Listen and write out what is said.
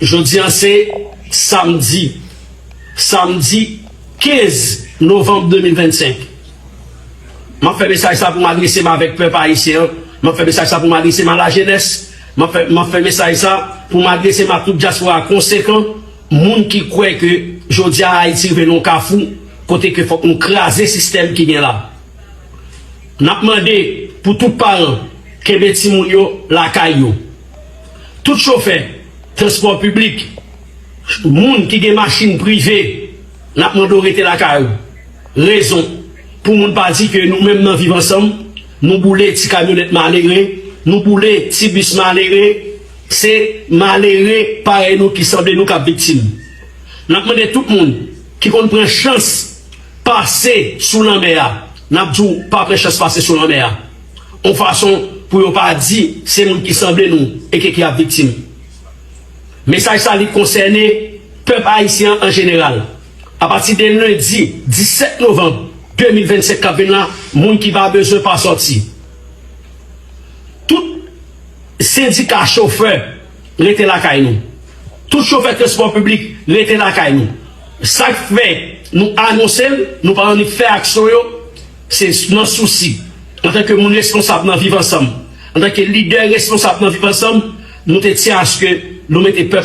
Jodi a se Samdi Samdi 15 Novanm 2025 M ap fè mesaj sa pou m adrese m avèk pèp Ayisyen an M ap fè mesaj sa pou m adrese m a lajenès M ap fè m ap fè mesaj sa pou m adrese m a tout dyaspora konsekan Moun ki kwè ke jodi a Ayiti rive nan yon kafou kote ke fòk nou kraze sistèm ki gen la N ap mande pou tout paran kenbe timoun yo lakay yo. Tout chofè transpò piblik, moun ki gen machin prive, n ap mande w rete lakay ou. Rezon, Pou moun pa di ke nou menm nan Viv Ansanm, nou boule ti kamyonèt malere, nou boule ti bis malere, se malere parèy nou ki sanble nou k ap viktim. N ap mande tout moun ki konn pran chans pase sou lanmè a, n ap di w pa pran chans pase sou lanmè a. yon fason pou yo pa di se moun ki sanble nou eke ki ap viktim. Mesaj sa li konsène pèp ayisyen an an jeneral. Apati de lendi 17 novanm 2025 k ap vin la, moun ki pa bezwen pa sòti. Tout sendika chofè rete lakay nou. Tout chofè transpò piblik rete lakay nou. Sa k fè nou anonse l, nou pa annik fè aksyon yo. Se nan sousi, antanke moun responsab nan Viv Ansanm, antanke lidè responsab nan Viv Ansanm, nou te tyen aske nou mete pèp.